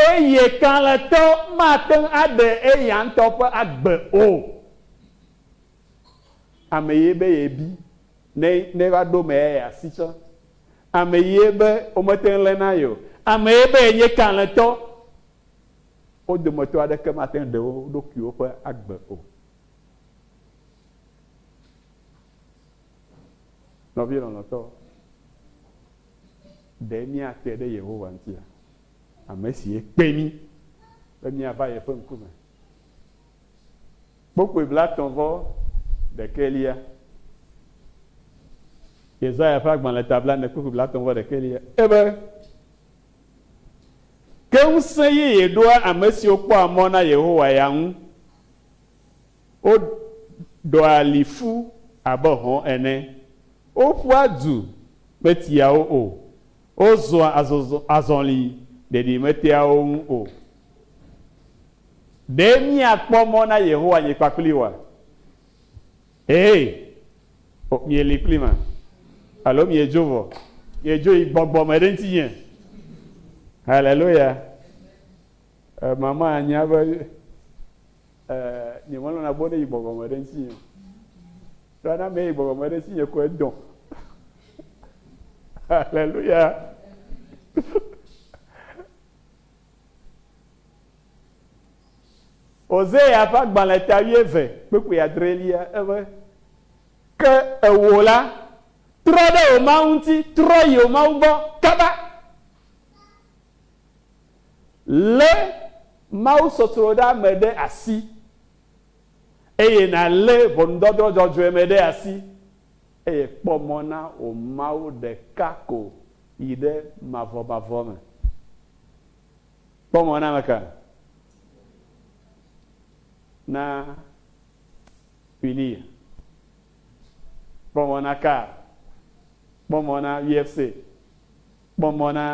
Eye kalẽtɔ mate ŋu aɖe eya ŋutɔ ƒe agbe o. Ame ye be yebi ne neva ɖo eme ye asi tsã. Ame ye be womete ŋu lé na ye o. Ame ye be yenye kalẽtɔ. Wo dometɔ aɖeke mate ŋu ɖe wo ɖokuiwo ƒe agbe o. Nɔvi lɔlɔ̃tɔ, ɖe míate ɖe Yehowa ŋutia, ame si kpe mí be míava yeƒe ŋkume? Kpokpui blatɔ̃ vɔ ɖekɛlia. Yesaya ƒe agbalẽ ta blaene kpokpui blatɔ̃ vɔ ɖekɛlia. Ebe, Ke ŋusẽ yeye ɖoa ame siwo kpɔa mɔ na Yehowa ya ŋu. Woɖɔa li ƒu abe hɔ̃ ene. Woƒua du metiawo o. Wozɔa azɔli ɖeɖi metea wo ŋu o. Ɖe míakpɔ mɔ na Yehowa nye kpakpli oa? Ee, mieli kplim a? Alo miedzo vɔ? Miedzo yi gbɔgbɔ me ɖe ŋutinye? Haleluya! Mama anya be nyemelɔ̃na be woneyi gbɔgbɔ me ɖe ŋutinye o. Ɖo ne ame yi gbɔgbɔ me ɖe ŋutinye ko edɔ. Haleluya! Hosea ƒe agbalẽ ta wuieve kpukpui adrelia ebe, Ke ewò la, trɔ ɖe wò Mawu ŋuti, trɔ yi wò Mawu gbɔ kaba. Lé mawusɔsrɔ̃ɖeame ɖe asi, eye nàlé ʋɔnudɔdrɔ̃ dzɔdzɔe me ɖe asi. Eye kpɔ mɔ na wò Mawu ɖeka ko yi ɖe mavɔmavɔ me. Kpɔ mɔ na ameka? Na Quinia. Kpɔ mɔ na Carl. Kpɔ mɔ na UFC. Kpɔ mɔ na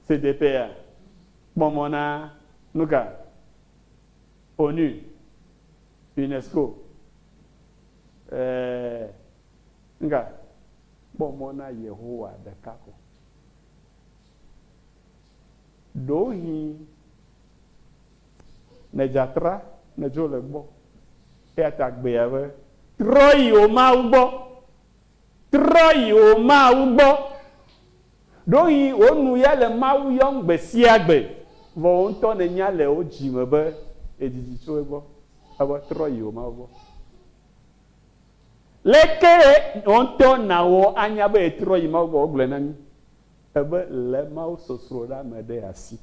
CDPA. Kpɔ mɔ na nuka? ONU, UNESCO. Ɛɛ, ŋga kpɔ mɔ na Yehowa ɖeka ko. Ɖewohĩ nè dza tra nè dzo le gbɔ. Eyata gbea be, Trɔ yi wò Mawu gbɔ, Trɔ yi wò Mawu gbɔ. Ɖoŋi wò nu ya le Mawu yɔm gbe sia gbe, vɔ wò ŋutɔ nènya le wò dzi me be èdidi tso egbɔ. Evɔ trɔ yi wò Mawu gbɔ. Lekee wò ŋutɔ nàwɔ anya be ètrɔ yi Mawu gbɔ? Wogblɔe na mí ebe lé Mawusɔsrɔ̃ ɖa me ɖe asi.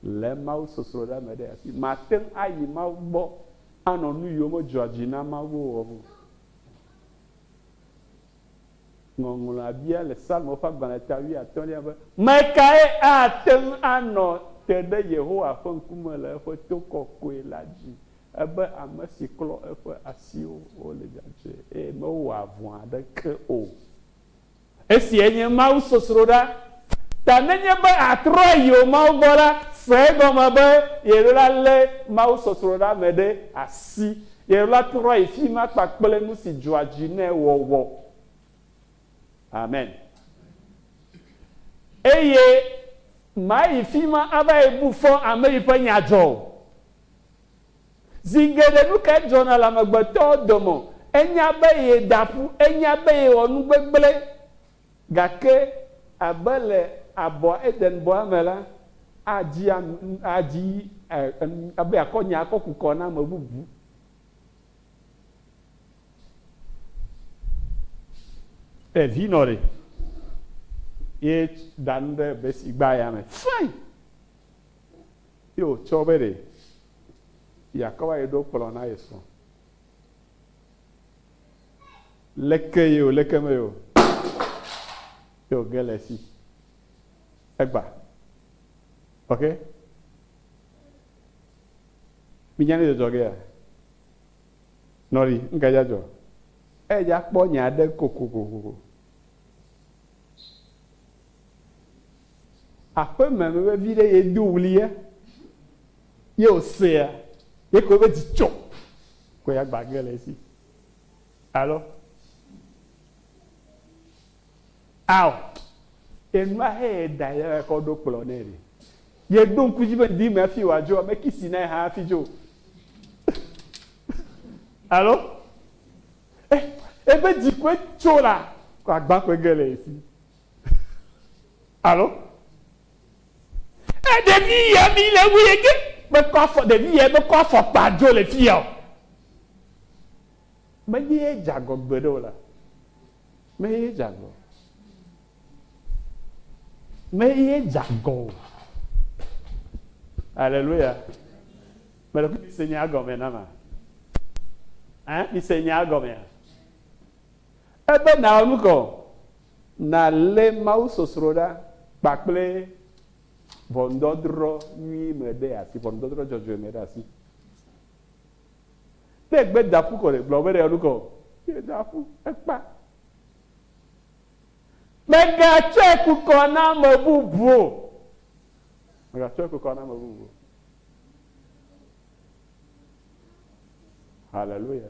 Le mawusɔsrɔ̃ ɖa me ɖe asi. Màte ŋu ayi Mawu gbɔ anɔ nu yiwo medzɔa dzi na Mawu o wɔm o. Ŋɔŋlɔa bia le Psalmo ƒe agbalẽ ta wuiatɔ̃lia be, Ame kae ate ŋu anɔ te ɖe Yehowa ƒe ŋkume le eƒe to kɔkɔe la dzi? Ebe ame si klɔ eƒe asiwo le dzadzɛ, eye mewɔa vɔ̃ aɖeke o. Esiae nye mawusɔsrɔ̃ɖa ta. Nenye be àtrɔ ayi wò Mawu gbɔ la, se egɔme be yeɖola lé mawusɔsrɔ̃ɖa me ɖe asi. Yeɖola trɔ yi fi ma kpakple nu si dzɔa dzi nɛ wɔwɔ. Amen. Eye màyi fi ma ava yi bu fɔ ame yi ƒe nya dzɔ o. Zi geɖe nu kae dzɔna le amegbetɔ dome? Enya be yeda ƒu, enya be yewɔ nu gbegblẽ. Gake abe le abɔ, Eden-bɔa me la, adzi adzi be yeakɔ nya akɔ ku kɔ na ame bubu. E vi nɔ ɖe ye da nu ɖe besi gba ya me. Fine. Ye wòtsɔ be ɖe yeakɔ va yi ɖo kplɔ̃ na ye srɔ̃. Leke ye o, leke mee o, ye wòge le esi. Egba. Ok? Minya nu si dzɔ gea? Nɔ ɖi, nu kae dza dzɔ? Edza kpɔ nya aɖe kokokoko. Aƒe me me veviɖe ye do ɣli ye ye wo sea ye ke wobe dzi tsɔ ko ya gba ge le esi alo ao enua he ye da ye kɔ ɖo kplɔ ne ɖe ye ɖo ŋku dzi be ŋdi me afi wa dzo me kisi na ye ha afi dzo alo eh ebe dzi ko tso la ko agba ko ge le esi Alo? E ɖevi ya mi le wu ye ke me kɔ afɔ ɖevi ya me kɔ afɔ kpa dzo le fi ya o. Me ye ye jagɔ gbe ɖe o la. Me ye ye jagɔ. Me ye ye jagɔ o. Alléluia. Me le kusi se nya gɔme na ma. Hein? Mi se nya gɔme ya. Ebe nàwɔ nu ka o? Nàlé mawusɔsrɔ̃ ɖa kpakple ʋɔnudɔdrɔ̃ nyui me ɖe asi, ʋɔnudɔdrɔ̃ dzɔdzɔe me ɖe asi. Ne ègbe da ƒu kɔ ɖe, gblɔ be nèwɔ nu ka o? Meda ƒu, ekpa. Mègatsɔe ku kɔ na ame bubu o. Mègatsɔe ku kɔ na ame bubu o. Haleluya.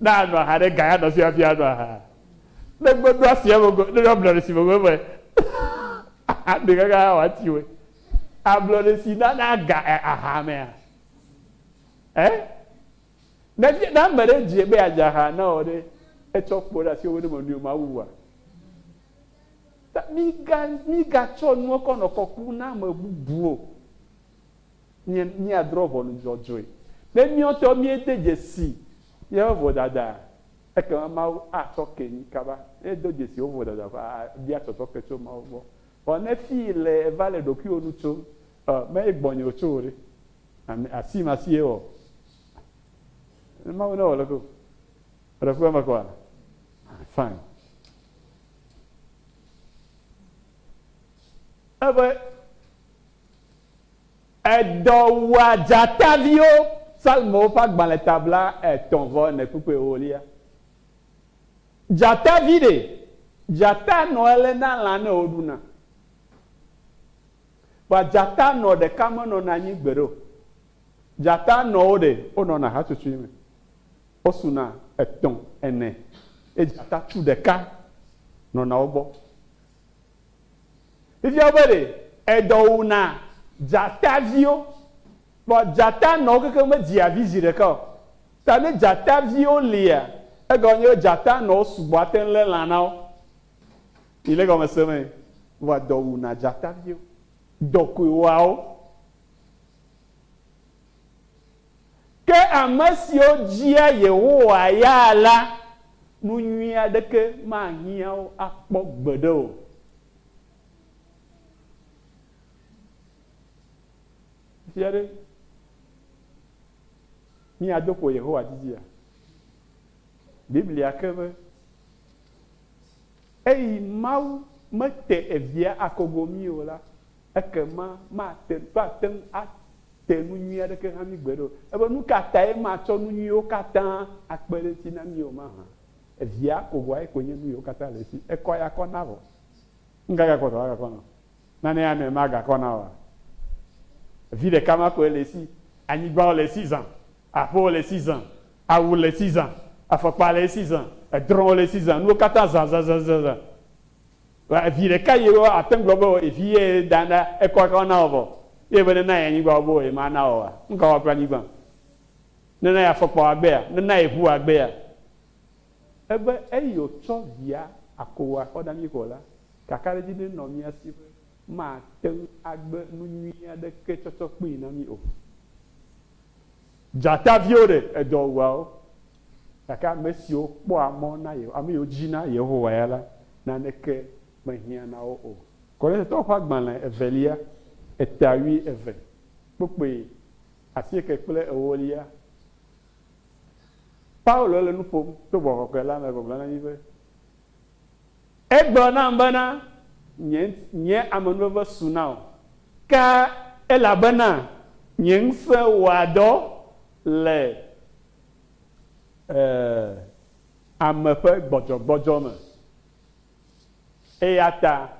Ne anɔ aha ɖe ga ya nɔ fi hafi anɔ aha. Ne gbedo asi eme ko ne ablɔ ɖe si me ko me aɖe kaka ha wati we. Ablɔ ɖe si na na ga e aha mea? E? Ne ne ame ɖe dze be adze aha na wò ɖe etsɔ kpo ɖe asi wo ne me nui ma wu wa. Mi ga mi ga tsɔ nua kɔ nɔ kɔku na ame bubu o. Mí, míadrɔ̃ ʋɔnu dzɔdzɔe. Ne míawo ŋutɔwo míede dzesi míaƒe vodadae, ekema Mawu atsɔ ke mí kaba. Ne èdo dzesi wò vodada ƒe abia tsɔtsɔ ke tso Mawu gbɔ. Vɔ ne fii le èva le ɖokuiwò nu tsom, ɔ, mee gbɔnye wòtso o ɖe? Ame, asi ma si ye wɔ. Ne Mawu ne wɔ leke o. Eɖe ku eme kɔa? Ah, fine. Ebe Edɔ wua dzataviwo. Psalmowo ƒe agbalẽ ta bla etɔ̃ vɔ ene kpukpui ewolia. Dzatavi ɖe? Dzata nɔ ele na lã ne woɖuna. Vɔa dzata nɔ ɖeka menɔna anyi gbeɖe o. Dzata nɔwo ɖe? Wonɔna hatsotsoe me. Wosuna etɔ̃, ene. Ye dzata tu ɖeka nɔna wo gbɔ. Fifia be ɖe edɔ wò na dzataviwo, vɔ dzata nɔwo kekeŋ me dzia vi zi ɖeka o. Ta ne dzataviwo lia, egɔme nye be dzata nɔwo sugbɔ ate ŋu lé lã na wo. Mi le egɔme se mee? Vɔa dɔ wò na dzataviwo. Dɔ koe wɔa wo. Ke ame siwo dzia Yehowa ya la, nu nyui aɖeke mahiã wo akpɔ gbeɖe o. Zi aɖe, míado ƒo Yehowa didia? Biblia ke be, Eyi Mawu mete evia akogo mí o la, Ekema mate, woate ŋu ate nu nyui aɖeke na mí gbeɖe o. Ebe nu ka tae matsɔ nu nyuiwo katã akpe ɖe edzi na mí o mahã? Evia kogoae koe nye nu yiwo katã le esi. Ekɔ ya kɔ na vɔ. Nu ka gakɔ ta woagakɔ na wò? Nanee amea magakɔ na wòa? Vi ɖeka ma koe le esi. Anyigbawo le esi zã. Aƒewo le esi zã. Awu le esi zã. Afɔkpa le esi zã. Edrɔ̃wo le esi zã. Nuwo katã zã zã zã zã zã. Vɔ evi ɖeka ye wo ate ŋgblɔ be wɔ ye vi ye ye dana ekɔ aka wo na wɔ vɔ ye be ne na ye anyigba wo be wɔ ye ma na wɔ wa? Nuka wa kple anyigba? Ne na ye afɔkpa wa gbea? Ne na ye ʋu wa gbea? Ebe eyi o tsɔ via ako wa xɔ dami ko la, kaka ɖe dzi ne nɔ mia si be ma te ŋu agbe nu nyui aɖeke tsɔtsɔ kpui na mi o. Dzata viwo ɖe edɔ wua wo. Gake ame siwo kpɔa mɔ na Yehowa, ame siwo dzina Yehowa ya la, naneke mehiã na wo o. Korintatɔwo ƒe agbalẽ evelia, etawui eve, kpukpui asieke kple ewolia. Paulo le nu ƒom to gbɔgbɔ kɔkɔe la me gbɔgblɔ na mí be, Egblɔ nam bena, Nye, nye amenuveve su na wò, ke elabena nye ŋusẽ wɔa dɔ le e, ame ƒe gbɔdzɔgbɔdzɔ me. Eya ta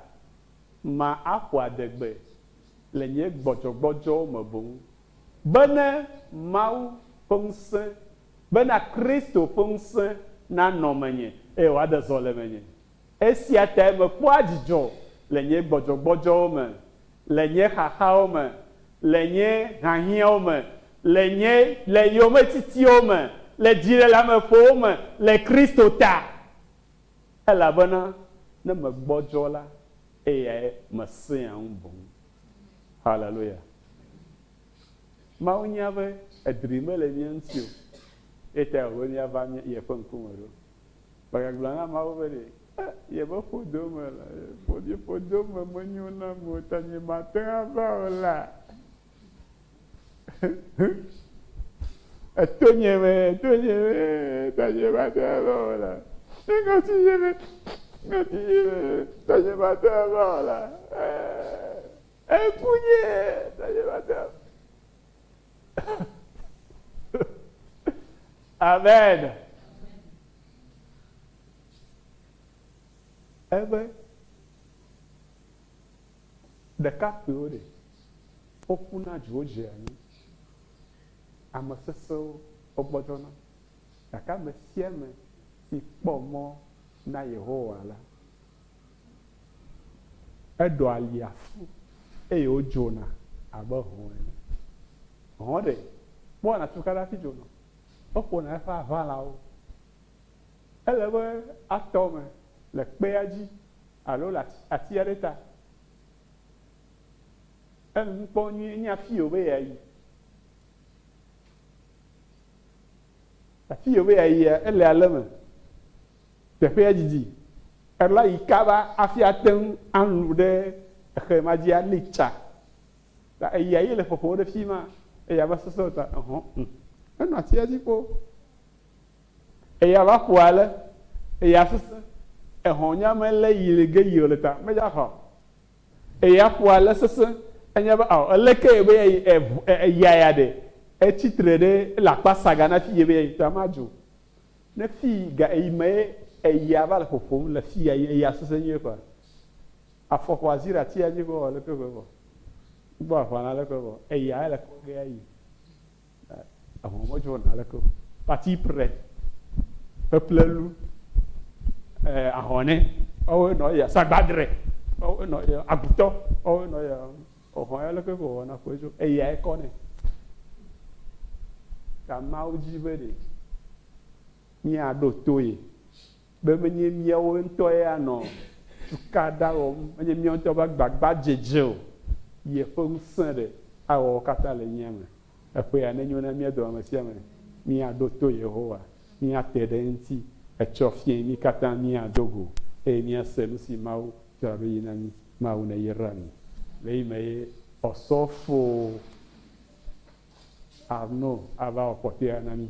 ma axɔ adegbe le nye gbɔdzɔgbɔdzɔ me boŋ, be ne Mawu ƒe ŋusẽ, bena Kristo ƒe ŋusẽ nanɔ menye, eye wòade zɔ le menye. Esia tae mekpɔa dzidzɔ le nye gbɔdzɔgbɔdzɔwo me, le nye xaxawo me, le nye hiahiãwo me, le nye le yometitiwo me, le dziɖeleameƒowo me le Kristo ta. Elabena ne megbɔdzɔ la, eyae mesẽa ŋu boŋ. Haleluya! Mawu nya be edri mele mía ŋuti o, eya tae wòbe míava yeƒe ŋkume ɖo. Mègagblɔ na ameawo be ɖe, E, yebe ƒodo me la, ƒodo, ƒodo me menyo nam o, ta nyemate ŋu ava o la, eto nye me, eto nye me, ta nyemate ŋu ava o la, eŋɔti nye me, ŋɔti nye me, ta nyemate ŋu ava o la, e, eku nye, ta nyemate ŋu. Amen. Ebe ɖekakpuiwo ɖe woku na dziwo dze anyi. Ame sesẽwo wogbɔdzɔna. Gake ame sia ame si kpɔ mɔ na Yehowa la, Eɖo alia fu eye wodzona abe hɔ̃ ene. Hɔ̃ ɖe kpɔna tukaɖa hafi dzona o, eƒona eƒe aʋalawo. Ele be atɔ eme le kpea dzi alo le ati aɖe ta. Ele nu kpɔm nyuie enye afii wòbe yeayi. Afii wòbe yeayia, ele ale me. Teƒea didi alea yi kaba hafi ate ŋu alũ ɖe exe ma dzi ali tsa. Ta eya ye le ƒoƒom ɖe fi ma, eya va sesẽ ta ehɔ ŋu. Enɔ atia dzi kpoo. Eya va ƒo ale, eya sesẽ, ehɔ nya me lé yi le ge yio le ta, medza hɔ. Eya ƒo ale sesẽ, enya be ao eleke ye be ya yi eya ya ɖe etsi tre ɖe ele akpa saga na fi ye be ya yi ta madzo. Ne fii ga eyi mee eya va le ƒoƒom le fia yi eya sese nyuie kɔa afɔ xɔ azi ɖe atia dzi kɔ le kɔe kɔ gbɔ afa na le kɔe kɔ eya ele kɔ ge ayi ahɔ mɔ jo na le kɔ pati pre peplelu eh ahɔne ɔwe nɔ ya sagbadre ɔwe nɔ ya agutɔ ɔwe nɔ ya Xɔxɔ ya leke ke wòwɔna kpɔe tso eyae kɔ nɛ. Ta Mawu di be ɖe míaɖo to ye be menye míawo ŋutɔ ye anɔ cukaɖa wɔm, menye míawo ŋutɔ be agbagbadzedze o, yeƒe ŋusẽ ɖe awɔ wo katã le mía me. Eƒea nenyo na mía dome ame sia ame míaɖo to Yehowa, míate ɖe eŋuti etsɔ fiẽ mí katã míado go eye míase nu si Mawu Tsɔ ɖo yi na mí, Mawu ne yra mí. Le yi me ye Ɔsɔfo Arno ava wɔ kpɔtɔea na mí.